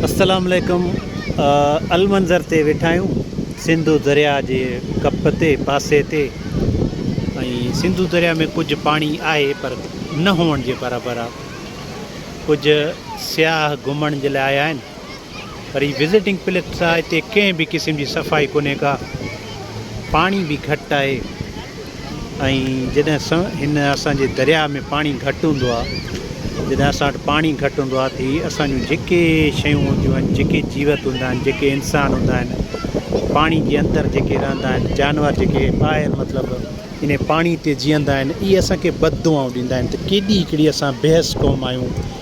السلام عليڪم المنظر تي ويٺا آهيون سنڌو دريا جي ڪپ تي پاسي تي ۽ سنڌو دريا ۾ ڪجهه پاڻي آهي پر نه هئڻ جي برابر آهي ڪجهه سياح گهمڻ جي لاء آيا آهن پر هي وزٽنگ پليس آهي هتي ڪنهن به قسم جي صفائي ڪونهي ڪا پاڻي به گهٽ آهي ۽ جڏهن سنء هن اسان جي درياهه ۾ پاڻي گهٽ هوندو آهي جڏهن اسان وٽ پاڻي گهٽ هوندو آهي ته هي اسان جون جيڪي شيون هونديون آهن جيڪي جيوت هوندا آهن جيڪي انسان هوندا آهن پاڻي جي اندر جيڪي رهندا آهن جانور جيڪي ٻاهر مطلب ان پاڻي تي جيئندا آهن اهي اسان کي بد دعائون ڏيندا آهن ته ڪيڏي هڪڙي اسان بي حس قوم آهيون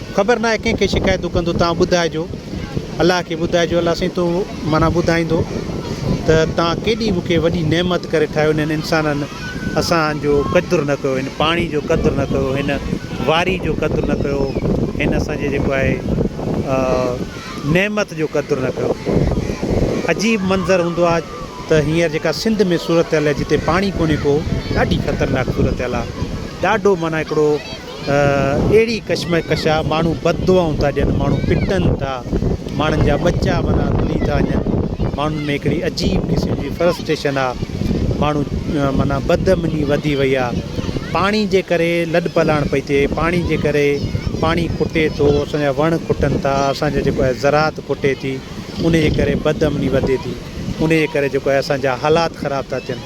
خبر ناهي ڪنهن کي شڪايتون ڪندو توهان ٻڌائجو الله کي ٻڌائجو الله سائين تون معنيٰ ٻڌائيندو ته توهان ڪيڏي مون کي وڏي نعمت ڪري ٺاهيو انهن انسانن اسان جو قدر نه ڪيو هن پاڻي جو قدر نه ڪيو هن واري جو قدر نه ڪيو هن اسانجي جيڪو آهي نعمت جو قدر نه ڪيو عجيب منظر هوندو آهي ته هينئر جيڪا سنڌ ۾ صورتحال جتي پاڻي ڪونهي ڪو ڏاڍي خطرناڪ صورتحال آهي ڏاڍو معنيٰ هڪڙو اهڙي ڪشمڪش آ ماڻهو بد دعائون ٿا ڏين ماڻهو پٽن ٿا ماڻهن جا ٻچا معنيٰ رلي ٿا وڃن ماڻهن ۾ هڪڙي عجيب قسم جي فرسٽريشن آ ماڻهو معنيٰ بد امني وڌي وئي آ پاڻي جي ڪري لڏ پلاڻ پئي ٿئي پاڻي جي ڪري پاڻي کٽي ٿو اسانجا وڻ کٽن ٿا اسانجو جيڪو آهي زراعت کٽي ٿي انهي جي ڪري بد امني وڌي ٿي انهي جي ڪري جيڪو آهي اسانجا حالات خراب ٿا ٿين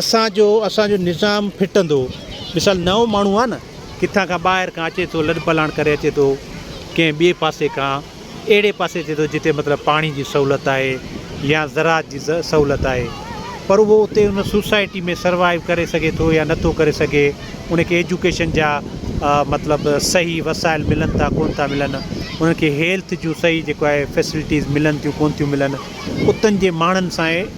اسان جو اسان جو نظام ڦٽندو. مثال نئون ماڻهو آهي نه ڪٿان کان ٻاهر کان اچي ٿو لڏ پلاڻ ڪري اچي ٿو ڪنهن ٻئي پاسي کان اهڙي پاسي اچي ٿو جتي مطلب پاڻي جي سهولت آهي يا زراعت جي سهولت آهي پر اهو اتي ان سوسائٽي ۾ سروائيو ڪري سگهي ٿو يا نٿو ڪري سگهي ان کي ايجوڪيشن جا مطلب صحيح وسائل ملن ٿا ڪون ٿا ملن انهن کي هيلٿ جون صحيح جيڪو آهي فيسلٽيز ملن ٿيون ڪون ٿيون ملن اتن جي ماڻهن سان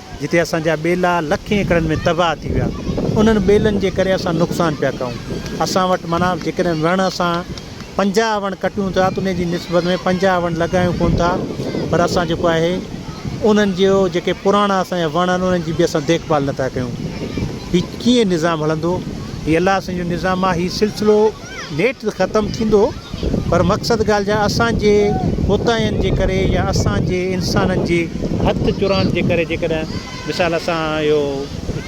جتي اسان جا ٻيلا لکين ايڪڙن ۾ تباهه ٿي ويا انهن ٻيلن جي ڪري اسان نقصان پيا ڪيون اسان وٽ معنيٰ جيڪڏهن وڻ اسان پنجاهه وڻ ڪٽيون ٿا ته ان جي نسبت ۾ پنجاهه وڻ لڳايون ڪون ٿا پر اسان جيڪو آهي انهن جو جيڪي پراڻا اسان جا وڻ آهن انهن جي به اسان ديک ڀال نٿا ڪيون هي ڪيئن نظام هلندو هي الله سائين جو نظام آهي هي سلسلو ليٽ ته ختم ٿيندو پر مقصد ڳالهه جا اسان جي ڪوتاهين جي ڪري يا اسان جي انسانن جي هٿ چرائڻ جي ڪري جيڪڏهن مثال سان اهو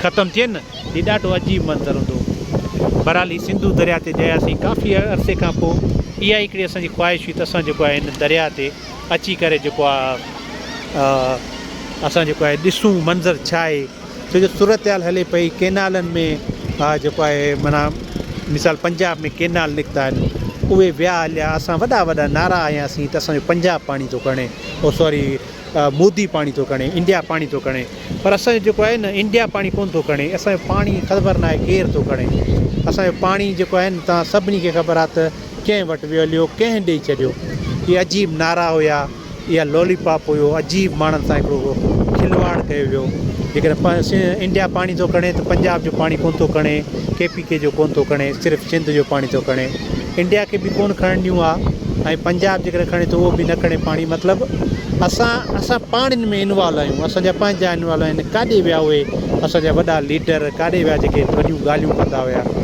ختم ٿئي نه هي ڏاڍو عجيب منظر هوندو. بهرحال هي سنڌو درياء تي جياسين ڪافي عرصي کان پوء اها ئي هڪڙي اسان جي خواهش هئي ته اسان جيڪو آهي هن درياء تي اچي ڪري جيڪو آهي اسان جيڪو آهي ڏسون منظر ڇا آهي. ڇو جو صورتحال هلي پئي ڪينالن ۾ جيڪو آهي معنيٰ مثال پنجاب ۾ ڪينال نڪتا آهن اهي ويا هليا اسان وڏا وڏا نعرا هنياسين ته اسانجو پنجاب پاڻي ٿو کڻي او سوري مودي پاڻي ٿو کڻي انڊيا پاڻي ٿو کڻي پر اسانجو جيڪو آهي نه انڊيا پاڻي ڪونه ٿو کڻي اسانجو پاڻي خبر ناهي ڪير ٿو کڻي اسانجو پاڻي جيڪو آهن تان سڀني کي خبر آهي ته ڪنهن وٽ ويو هليو، ڪنهن ڏئي ڇڏيو. اهي عجيب نعرا هيا، اها لالي پاپ هيو، عجيب ماڻهن سان هڪڙو کلواڙ ڪيو ويو. جيڪڏهن انڊيا پاڻي ٿو کڻي ته پنجاب جو پاڻي ڪونه ٿو کڻي، ڪي پي ڪي جو ڪونه ٿو کڻي، صرف سنڌ جو پاڻي ٿو کڻي. انڊيا کي به ڪونه کڻڻ ڏيون ها ۽ پنجاب جيڪڏهن کڻي ٿو اهو به نه کڻي پاڻي. مطلب اسان اسان پاڻ ان ۾ انوالو آهيون، اسان جا پنهنجا انوالو آهن. ڪاڏي ويا اهي اسان جا وڏا ليڊر، ڪاڏي ويا جيڪي وڏيون ڳالهيون ڪندا هيا.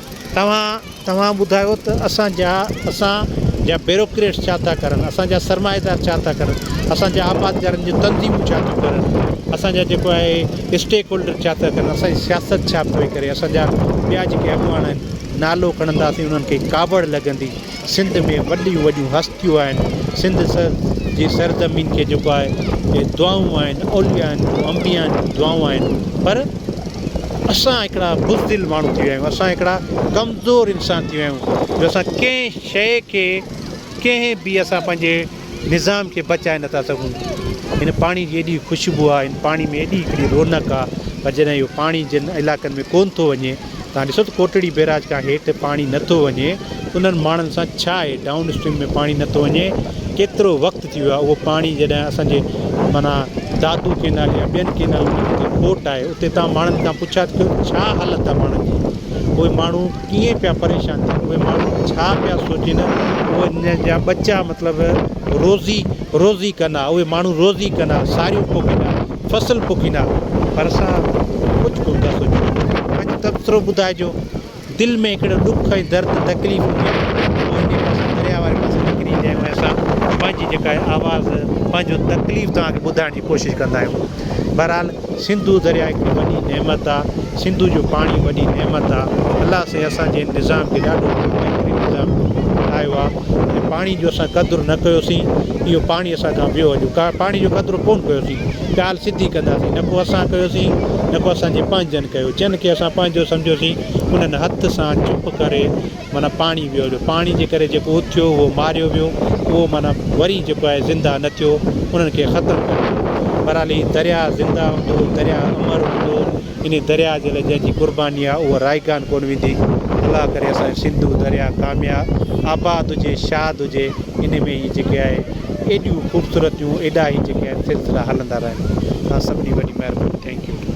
توهان توهان ٻڌايو ته اسان جا اسان جا بيروڪريٽس ڇا ٿا ڪرن، اسان جا سرمائيدار ڇا ٿا ڪرن، اسان جا آبادگارن جون تنظيمون ڇا ٿيون ڪرن، اسان جا جيڪو آهي اسٽيڪ هولڊر ڇا ٿا ڪرن، اسان جي سياست ڇا پئي ڪري، اسان جا ٻيا جيڪي اڳواڻ آهن نالو کڻنداسين انهن کي ڪاوڙ لڳندي. سنڌ ۾ وڏيون وڏيون هستيون آهن سنڌ سر جي سرزمين کي جيڪو آهي اهي دعائون آهن اوليائن جون انبيائن جون دعائون آهن پر اسان هڪڙا بزدل ماڻهو ٿي ويا آهيون اسان هڪڙا ڪمزور انسان ٿي ويا آهيون جو اسان ڪنهن شيء کي ڪنهن به اسان پنهنجي نظام کي بچائي نٿا سگهون. هن پاڻي جي ايڏي خوشبو آ، هن پاڻي ۾ ايڏي هڪڙي رونق آ، پر جڏهن اهو پاڻي جن علائقن ۾ ڪونه ٿو وڃي، توهان ڏسو ته ڪوٽڙي بيراج کان هيٺ پاڻي نه ٿو وڃي، انهن ماڻهن سان ڇا آهي، ڊائون اسٽريم ۾ پاڻي نه ٿو وڃي، ڪيترو وقت ٿي ويو آ، اهو پاڻي جڏهن اسان جي معنيٰ دادو ڪينال يا ٻين ڪينالن جي جتي کوٽ آهي، اتي توهان ماڻهن کان پڇا ته ڪيو ته ڇا حالت آ ماڻهن جي، اهي ماڻهو. ڪيئن پيا پريشان ٿين اهي ماڻهو ڇا پيا سوچين اهي جا ٻچا مطلب روزي روزي ڪن ها اهي ماڻهو روزي ڪن ها ساريون پوکين ها فصل پوکين ها پر اسان ڪجهه ڪونه ٿا سوچون پنهنجو تبصرو ٻڌائجو دل ۾ هڪڙو ڏک ۽ درد تڪليف هجي اهو هن پاسي درياء واري پاسي نڪري ايندو آهي ۽ اسان پنهنجي جيڪا آواز پنهنجو تڪليف توهان کي ٻڌائڻ جي ڪوشش ڪندا آهيون بھرحال سنڌو درياء ھڪڙي وڏي نعمت آ سنڌو جو پاڻي وڏي نعمت آ الله سائين اسان جي نظام کي ڏاڍو بھترين نظام ٺاھيو آ ۽ پاڻي جو اسان قدر نه ڪيو سين اھو پاڻي اسان کان ويو اڄ پاڻي جو قدر ڪون ڪيو سين ڳالھ سڌي ڪندا سين نه ڪو اسان ڪيو سين نه ڪو اسان جي پنھنجن ڪيو جن کي اسان پنھنجو سمجھيو سين انھن ھٿ سان چپ ڪري معنيٰ پاڻي ويو جو پاڻي جي ڪري جيڪو اٿ ٿيو اهو ماريو ويو اهو معنيٰ وري جيڪو آهي زنده نه ٿيو انهن کي ختم ڪري ڇڏيو بهرحال هي درياء زنده هوندو درياء امر هوندو ان درياء جي لاء جنهنجي قرباني آهي اها رائگان ڪونه ويندي الله ڪري اسانجو سنڌو درياء ڪامياب آباد هجي شاد هجي ان ۾ هي جيڪي آهي ايڏيون خوبصورتيون ايڏا هي جيڪي آهن سلسلا هلندا رهن توهان سڀني وڏي مهرباني ٿينڪ يو